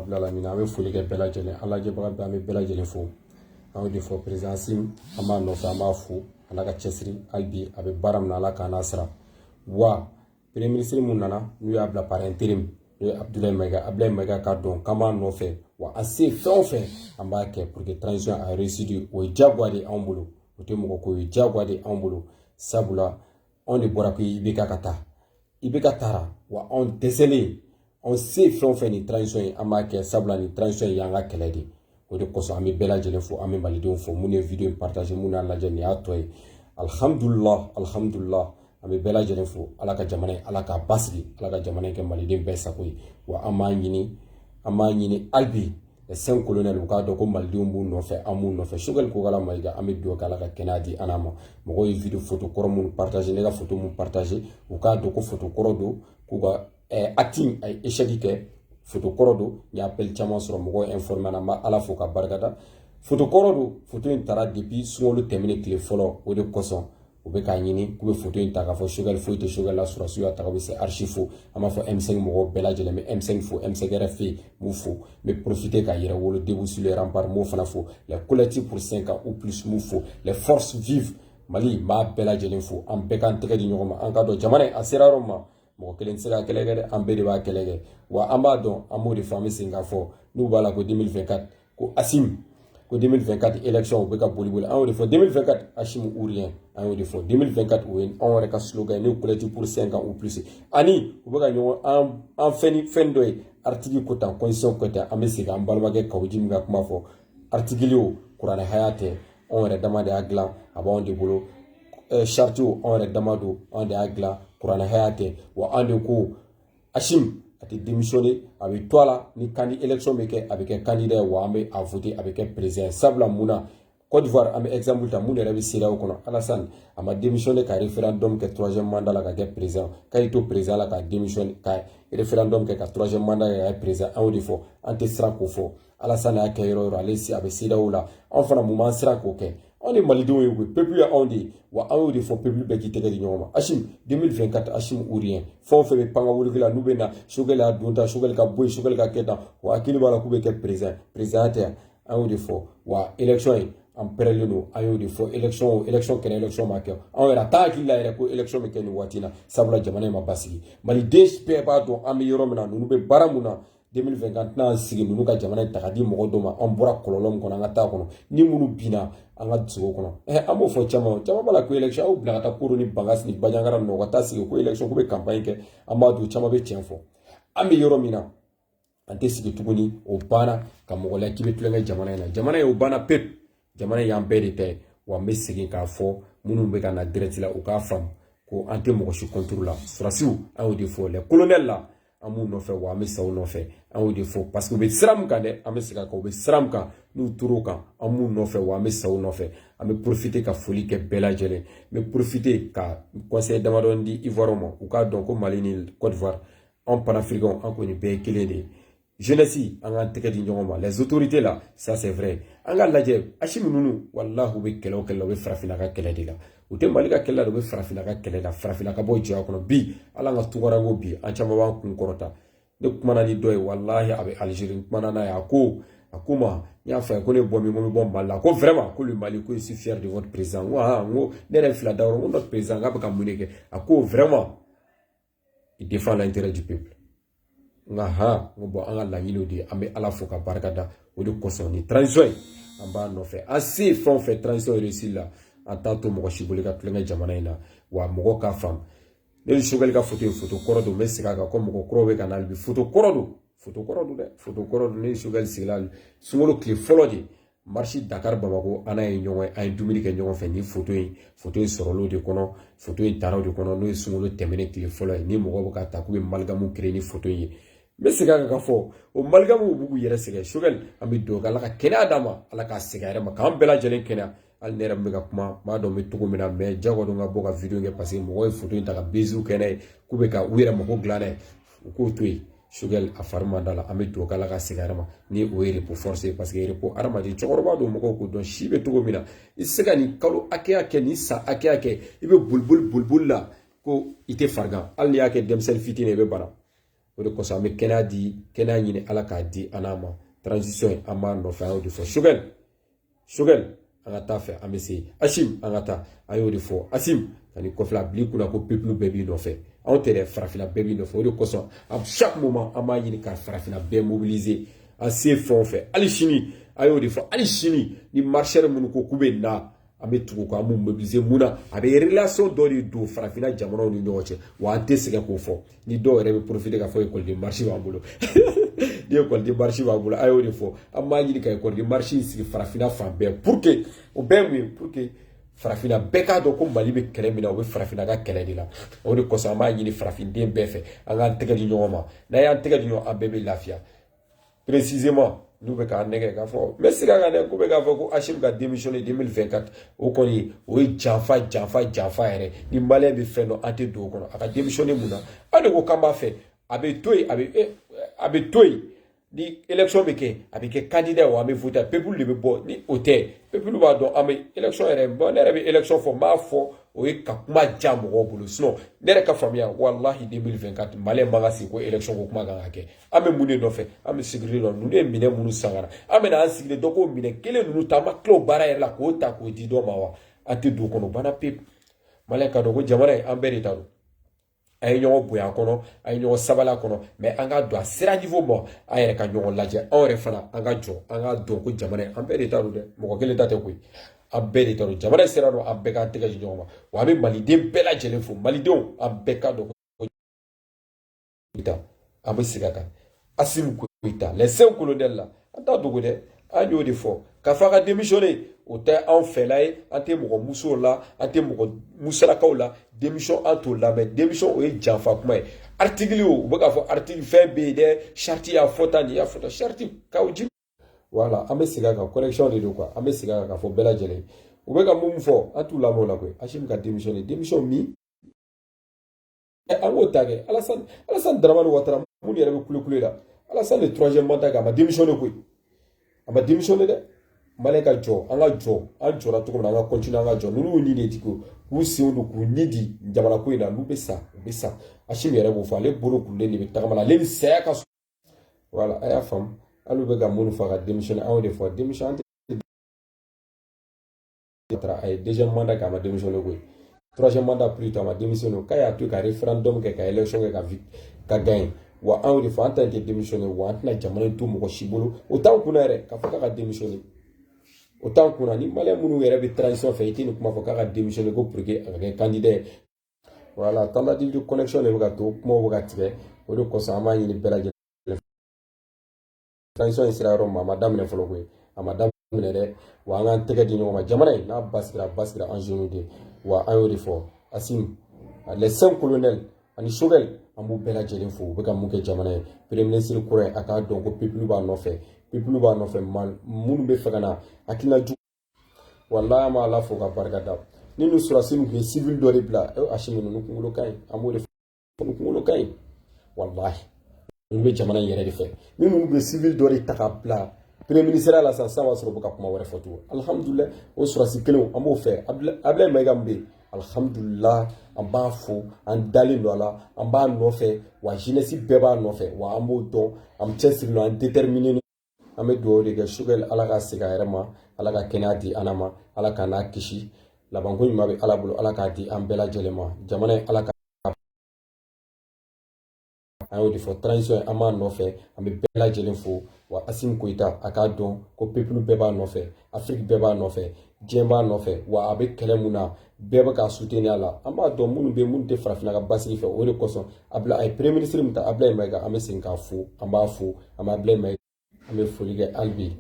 Bilalamina an bɛ foli kɛ bɛɛ lajɛlen an lajɛbaga bɛɛ an bɛ bɛɛ lajɛlen fo an y'o de fɔ perezan asimi an b'a nɔfɛ an b'a fo a n'a ka cɛsiri hali bi a bɛ baara min na ala k'an n'a sara wa premier minisiri mun nana n'u y'a bila par intérim n'o ye abudulayi mayiga abudulayi mayiga k'a dɔn k'an b'a nɔfɛ wa a se fɛn o fɛn an b'a kɛ pour que transition a réussi o ye diyagoya de anw bolo o tɛ mɔgɔ ko ye diyagoya de anw bolo sabula anw de bɔra ko IBK ka taa IBK taara wa anw dɛsɛlen anw se fɛn o fɛn nin transition ye an b'a kɛ sabula nin transition in y'an ka kɛlɛ de ye o de kosɔn an bɛ bɛɛ lajɛlen fo an bɛ malidenw fo minnu ye video in partage minnu y'a lajɛ nin y'a tɔ ye alihamudulila alihamudulila an bɛ bɛɛ lajɛlen fo ala ka jamana in ala k'a basigi ala ka jamana in kɛ maliden bɛɛ sago ye wa an b'a ɲini an b'a ɲini hali bi 5 colonels u k'a dɔn ko malidenw b'u nɔfɛ an b'u nɔfɛ sogɛli kokala mayiga an bɛ dugawu k'ala ka kɛnɛya di an ma mɔgɔw ye video foto kɔrɔ minnu partage ne ka foto minnu partage u k'a dɔn ko foto kɔrɔ don k'u ka acti a ye échec kɛ foto kɔrɔ don n ye appel caman sɔrɔ mɔgɔw informe na n bɛ ala fo k'a barika da foto kɔrɔ don foto in tara depuis sunkalo tɛmɛnen tile fɔlɔ o de kosɔn u bɛ k'a ɲini k'u bɛ foto in ta k'a fɔ sogɛli foyi tɛ sogɛli la sɔrɔsiw y'a ta ka bɛ c'est archi faux an b'a fɔ M5 mɔgɔw bɛɛ lajɛlen n bɛ M5 fo M5 RFP n b'u fo n bɛ porofite ka yɛrɛwolo debout sur les remparts m'o fana fo le collectif pour 5 ans ou plus m'u fo la force vive mali n b'a bɛɛ lajɛlen fo an bɛɛ k'an tɛgɛ di ɲɔgɔn ma an k'a dɔn jamana in a sera yɔrɔ min ma mɔgɔ kelen tɛ se ka kɛlɛ kɛ dɛ an bɛɛ de b'a kɛlɛ kɛ wa an b'a dɔn an b'o de fɔ an bɛ segin k'a fɔ n'u b'a la ko 2024 ko asimi ko 2024 élection u bɛ ka boli boli an y'o de fɔ 2024 asimi ou rien an y'o de fɔ 2024 o ye anw yɛrɛ ka slogan ye n'o collectif pour 5 ans ou plus ani u bɛ ka ɲɔgɔn an an fɛn ni fɛn dɔ ye article ko tan constitution ko tan an bɛ segin an balimakɛ kawu jimi ka kuma fɔ article o kuranɛ haya tɛ anw yɛrɛ dama de y'a dilan a b'anw de bolo charte o anw yɛrɛ dama don anw de y'a dilan kuranɛ haya tɛ wa an de ko asimi a tɛ démissionné a bɛ to a la ni kandi election bɛ kɛ a bɛ kɛ kandida ye wa an bɛ a vote a bɛ kɛ president sabula mun na Côte d'Ivoire an bɛ exemple ta mun yɛrɛ bɛ CEDEAO kɔnɔ Alassane a ma démissionné ka référendum kɛ troisième mandat la ka kɛ président k'a y'i to président la ka démissionné ka référendum kɛ ka troisième mandat kɛ ka kɛ président an y'o de fɔ an tɛ siran k'o fɔ alasani y'a kɛ yɔrɔ yɔrɔ ale a bɛ CEDEAO la anw fana mun b'an siran k'o kɛ anw de malidenw ye koyi pepulu ye anw de ye wa an y'o de fɔ pepulu bɛɛ k'i tɛgɛ di ɲɔgɔn ma asimi 2024 asimi ou rien fɛn o fɛn bɛ pan ka woloki la n'u bɛ na sogɛli y'a don tan sogɛli ka bɔ yen sogɛli ka kɛ tan wa hakili b'a la k'u bɛ kɛ perezan perezan tɛ yan an y'o de fɔ wa election ye an pɛrɛlen don an y'o de fɔ election o election kɛra election ma kɛ anw yɛrɛ a t'an hakili la yɛrɛ ko election bɛ kɛ nin waati in na sabula jamana in ma basigi maliden bɛɛ b'a dɔn an bɛ yɔrɔ min na ninnu bɛ baara mun na 2024 tɛna sigi ninnu ka jamana in ta ka di mɔgɔ dɔ ma an bɔra kɔlɔlɔ min kɔnɔ an ka taa kɔnɔ ni minnu binna an ka dusugo kɔnɔ ɛ an b'o fɔ caman caman b'a la ko election aw bila ka taa koro ni bankasi ni banjagara ninnu ka taa sigi ko election ko bɛ campagne kɛ an b'a dɔn caman bɛ tiɲɛ fɔ an bɛ yɔrɔ min na an tɛ sigi tuguni o banna ka mɔgɔ la k'i bɛ tulonkɛ jamana in na jamana in o banna pewu jamana y'an bɛɛ de ta ye wa n bɛ segin k'a fɔ minnu bɛ ka na direct la u k'a faamu ko an tɛ mɔgɔ si kɔntoro la sɔrɔdasiw an y'o de fɔ les colonels la an b'u nɔfɛ wa an bɛ sa u nɔfɛ an y'o de fɔ paseke u bɛ sira min kan dɛ an bɛ segin a kan u bɛ sira min kan n'u tor'o kan an b'u nɔfɛ wa an bɛ sa u nɔfɛ an bɛ porofite ka foli kɛ bɛɛ lajɛlen n bɛ porofite ka conseil damadɔ di ivoire ma u k'a dɔn ko mali ni cote d'ivoire anw panafirikanw an kɔni bɛɛ ye kelen de ye jeunesse an k'an tɛgɛ di ɲɔgɔn ma les autorités la ça c'est vrai an ka lajɛ asimi ninnu walahi u bɛ kɛlɛ o kɛlɛ la u bɛ farafinna ka kɛlɛ de la u tɛ mali ka kɛlɛ la u bɛ farafinna ka kɛlɛ la farafinna ka bɔ jɔnya kɔnɔ bi ala ka tungaranke bi an caman b'an kun kɔrɔta ne kumana ni dɔ ye walahi a bɛ alizeri n kumana n'a ye a ko a ko ma n y'a fɔ a ye ko ne bɔ min ko n bɛ bɔ mali la ko vraiment ko le mali ko je suis fier de votre président n ko han n ko ne yɛrɛ fila da yɔrɔ n ko notre président k'a bɛ ka mun de kɛ a ko vraiment il défend l'intérêt du peuple nka han n ko bon an ka laɲiniw de an bɛ ala fo ka barika da o de kosɔn ni transition ye an b'a nɔfɛ an se fɛn o fɛn transition réussi la an t'a to mɔgɔ si bolo ka tulonkɛ jamana in na wa mɔgɔ k'a faamu ne ni sogɛli ka foto ye foto kɔrɔ don n bɛ segin a kan ko mɔgɔ kɔrɔw bɛ ka na hali bi foto kɔrɔ don foto kɔrɔ don dɛ foto kɔrɔ don ne ni sogɛli sigila sunkalo tile fɔlɔ de marche dakari bamakɔ an n'a ye ɲɔgɔn ye an ye dumuni kɛ ɲɔgɔn fɛ ni foto in foto in sɔrɔla o de kɔnɔ foto in tara o de kɔnɔ n'o ye sunkalo tɛmɛnen tile fɔlɔ ye ni mɔgɔw bɛ ka ta k'u bɛ maligamu kere ni foto in ye n bɛ segin a kan ka fɔ o maligamuw b'u k'u yɛrɛ sɛgɛn sogɛli an bɛ dugawu kɛ ala ka kɛnɛya d'a ma ala k'a segin a yɛrɛ ma k'an bɛɛ lajɛlen kɛnɛya hali ne yɛrɛ bɛ ka kuma n b'a dɔn n bɛ cogo min na mɛ jagoya don ka bɔ ka wideyo kɛ paseke mɔgɔw ye foto in ta ka beziw kɛ n'a ye k'u bɛ ka u yɛrɛ mago dilan n'a ye u k'o to yen sogɛli a fari man d'a la an bɛ dugawu kɛ ala ka segin a ma ni o ye repos ye paseke repos hadamaden cɛkɔrɔba don mɔgɔw k'o dɔn si bɛ cogo min na i tɛ se ka nin kalo hakɛya kɛ nin san hakɛya kɛ i bɛ boli boli boli boli la ko i tɛ farigan hali n'i y'a kɛ denmisɛnnin fitinin ye i bɛ bana o de kosɔn an bɛ kɛnɛya di kɛnɛya ɲini ala k'a di an n'a ma transition an b'a nɔfɛ an y'o de fɔ sogɛ sogɛli an ka taa fɛ an bɛ se asimi an ka taa an y'o de fɔ asimi an b'i kɔfɛ a bil'i kun na ko pepilu bɛɛ b'i nɔfɛ anw tɛ dɛ farafinna bɛɛ b'i nɔfɛ o de kosɔn à chaque moment an b'a ɲini ka farafinna bɛɛ mobiliser an se fɛn o fɛn hali sini an y'o de fɔ hali sini ni marcheurs minnu ko k'u bɛ na an bɛ tugu ko an b'u mobiliser mun na a bɛ relation dɔ de don farafinna jamanaw ni ɲɔgɔn cɛ wa an tɛ sɛgɛn k'o fɔ ni dɔw yɛrɛ bɛ profiter k'a fɔ école de marche b'an bolo ni école de marche b'an bolo an y'o de fɔ an b'a ɲini ka école de marche in sigi farafinna fan bɛɛ pour que o bɛɛ ye mun ye pour que farafinna bɛɛ k'a dɔn ko mali bɛ kɛlɛ min na o bɛ farafinna ka kɛlɛ de la o de kosɔn an b'a ɲini farafinden bɛɛ fɛ an k'an tɛgɛ di ɲɔgɔn ma n'an y'an tɛgɛ di ɲɔgɔn an bɛɛ bɛ lafiya précisément n'u bɛ k'an nɛgɛ k'a fɔ n bɛ segin a kan dɛ k'u bɛ k'a fɔ ko asimi ka démissionner 2024 o kɔni o ye janfa janfa janfa yɛrɛ ni maliyɛn bɛ fɛn dɔn an tɛ don o kɔnɔ a ka démissionner mun na an de ko k'an b'a fɛ a bɛ to yen a bɛ eh, a bɛ to yen ni élection bɛ kɛ a bɛ kɛ candidat wa an bɛ voter peuple de bɛ bɔ ni o tɛ peuple b'a dɔn an bɛ élection yɛrɛ bon ne yɛrɛ bɛ élection fɔ n b'a fɔ o ye ka kuma ja mɔgɔw bolo sinon ne yɛrɛ ka faamuya walahi 2024 maliyɛn man ka sigi ko élection ko kuma kan ka kɛ an bɛ mun de nɔfɛ an bɛ sécurité nɔ ninnu ye minɛ minnu sangara an bɛna an sigilen dɔ k'o minɛ kelen ninnu ta an ma tila o baara yɛrɛ la k'o ta k'o di dɔ ma wa an tɛ don o kɔnɔ banna pewu maliyɛn ka dɔn ko jamana in an bɛɛ de ta don a ye ɲɔgɔn bonya a kɔnɔ a ye ɲɔgɔn sabali a kɔnɔ mais an ka dɔn a sera niveau ma an yɛrɛ ka ɲɔgɔn lajɛ anw yɛrɛ fana an ka jɔ an ka dɔn ko jamana an bɛɛ de ta don dɛ mɔgɔ kelen ta tɛ koyi an bɛɛ de ta don jamana sira don an bɛɛ k'an tɛgɛ di ɲɔgɔn ma wa an bɛ maliden bɛɛ lajɛlen fo malidenw an bɛɛ ka dɔn koyita an bɛ segin a kan asimi goyita les 5 colonels la an t'a dogo dɛ an y'o de fɔ k'a fɔ a ka démissionner o tɛ anw fɛla ye an tɛ mɔgɔ musow la an tɛ mɔgɔ musalakaw la démission an t'o lamɛn démission o ye janfa kuma ye article o u bɛ k'a fɔ article fɛn bɛ yen dɛ charte y'a fɔ tan nin y'a fɔ tan charte corrigée voilà an bɛ segin a kan correction de don quoi an bɛ segin a kan k'a fɔ bɛɛ lajɛlen u bɛ ka mun fɔ an t'u lamɛn o la koyi asimi ka démissionner démission min an k'o ta kɛ alasani alasani daramani watara minnu yɛrɛ bɛ kulekule la alasani de troisième mandat kɛ a ma démissionné koyi a ma démissionné dɛ maliyɛn ka jɔ an ka jɔ an jɔra cogo min na an ka continuer an ka jɔ ninnu y'u ni de di ko k'u senw don k'u ni di jamana ko in na n'u bɛ sa u bɛ sa asimi yɛrɛ b'o fɔ ale bolo kurulen de bɛ tagama la ale ni saya ka voilà a y'a faamu hali u bɛ ka minnu fɔ ka démissionner an y'o de fɔ démission an tɛ a ye deuxième mandat kɛ a ma démissionné koyi troisième mandat plus tard a ma démissionné k'a y'a to ka référendum kɛ ka élection kɛ ka ka gagner wa an y'o de fɔ an ta in tɛ démissionner wa an tɛna jamana in to mɔgɔ si bolo o t'an kunna yɛrɛ k'a fɔ k'a ka démissionner o t'an kunna ni maliyɛn minnu yɛrɛ bɛ transition fɛ i tɛ nin kuma fɔ k'a ka démissionner ko pour que a ka kɛ candidat ye voilà tentative de connexion de bɛ ka to kumaw bɛ ka tigɛ o de kosɔn an b'a ɲini bɛɛ lajɛlen transition in sera yɔrɔ min a ma daminɛ fɔlɔ koyi a ma daminɛ dɛ wa an k'an tɛgɛ di ɲɔgɔn ma jamana in n'a basigira a basigira an jeunes de wa an y'o de fɔ asimi les cinq colonels ani sogɛl an b'u bɛɛ lajɛlen fo u bɛ ka mun kɛ jamana ye premier ministre kura a k'a dɔn ko pepulu b'a nɔfɛ pepulu b'a nɔfɛ minnu bɛ fɛ ka na hakilina jugu walayi an b'ala fo ka barika da ni ninnu sɔrɔsi ninnu tun ye civil dɔ de bila asimi ninnu kunkolo ka ɲi an b'o de fɔ ninnu kunkolo ka ɲi walahi ninnu bɛ jamana in yɛrɛ de fɛ ni ninnu bɛ civil dɔ de ta ka bila premier ministre la sisan sisan b'a sɔrɔ u bɛ ka kuma wɛrɛ fɔ tugun alihamudulilayi o sɔrɔsi kelenw an b'o fɛ abilayi mayiga min bɛ yen alihamudulilayi an b'a fo an dalen don a la an b'a nɔfɛ wa jeunesse bɛɛ b'a nɔfɛ wa an b'o dɔn an cɛsirilen don an déterminé an bɛ dugawu de kɛ sogɛl ala ka segin a yɛrɛ ma ala ka kɛnɛya di an n'a ma ala k'an n'a kisi labanko ɲuman bɛ ala bolo ala k'a di an bɛɛ lajɛlen ma jamana in ala ka an y'o de fɔ transition an b'a nɔfɛ an bɛ bɛɛ lajɛlen fo wa asimi koyita a k'a dɔn ko pepulu bɛɛ b'a nɔfɛ afiriki bɛɛ b'a nɔfɛ diɲɛ b'a nɔfɛ wa a bɛ kɛlɛ min na bɛɛ bɛ k'a soutenir a la an b'a dɔn minnu bɛ minnu tɛ farafinna ka basigi fɛ o de kosɔn bi a ye premier ministre min ta abulayi mayiga an bɛ segin k'a fo an b'a fo an bɛ abulayi mayiga an bɛ foli kɛ hali bi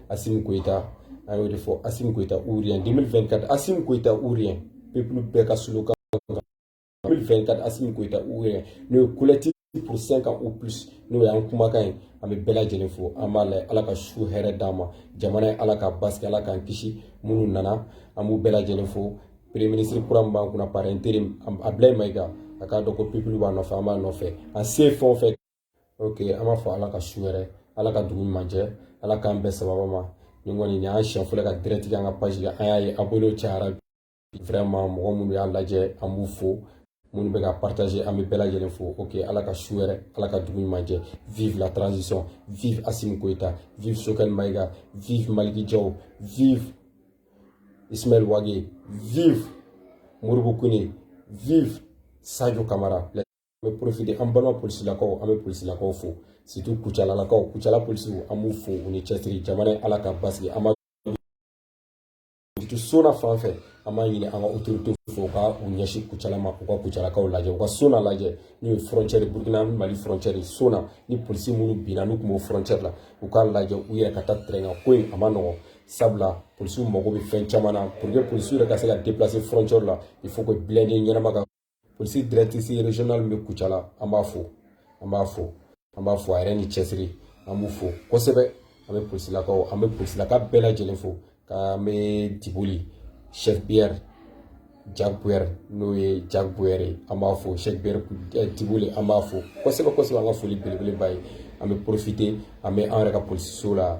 asimi koyita an y'o de fɔ asimi koyita ou rien 2024 asimi koyita ou rien pepulu bɛɛ ka slogan 24 asimi koyita ou rien n'o ye collectif pour 5 ans ou plus n'o y'an kumakan ye an bɛ bɛɛ lajɛlen fo an b'a layɛ ala ka su hɛrɛ d'an ma jamana in ala k'a basigi ala k'an kisi minnu nana an b'u bɛɛ lajɛlen fo premier ministre kura min b'an kunna par intérim abilayi mayiga a k'a dɔn ko pepulu b'a nɔfɛ an b'a nɔfɛ an se fɛn o fɛn ok an b'a fɔ ala ka su hɛrɛ ala ka dugu ɲuman jɛ ala k'an bɛɛ sababa ma nin kɔni nin y'an siɲɛ fɔlɔ ka direct kɛ an ka page kan an y'a ye abonné cayara vraiment mɔgɔ minnu y'a lajɛ an b'u fo minnu bɛ ka partager an bɛ bɛɛ lajɛlen fo ok ala ka su hɛrɛ ala ka dugu ɲuman jɛ vive la transition vive asimi koyita vive sogɛl mayiga vive maliki jaw vive ismail wage vive modibo kone vive sajo kamara an bɛ profiter an balima polisilakaw an bɛ polisilakaw fo surtout kucalalakaw kucala polisiw an b'u fo u ni cɛsiri jamana in ala k'a basigi an sona fan fɛ an b'a ɲini an ka otorite fɛ u ka u ɲɛsin kucala ma u ka kucalakaw lajɛ u ka sona lajɛ n'o ye frontiɛri burukina mali frontiɛri sona ni polisi minnu binna n'u tun b'o frontiɛri la u k'a lajɛ u yɛrɛ ka taa terrain kan ko in a man nɔgɔn sabula polisiw mago bɛ fɛn caman na pour que polisiw yɛrɛ ka se ka déplacer frontiɛri la il faut que blindé ɲɛnama ka polisi directrice régionale min bɛ kucala an b'a fo an b'a fo an b'a fo a yɛrɛ ni cɛsiri an b'u fo kosɛbɛ an bɛ polisilakaw an bɛ polisilaka bɛɛ lajɛlen fo k'an bɛ diboli chef pierre jaguer n'o ye jaguer ye an b'a fo chef pierre eh, diboli an b'a fo kosɛbɛ kosɛbɛ an ka foli belebeleba ye an bɛ profiter an bɛ an yɛrɛ ka polisiso la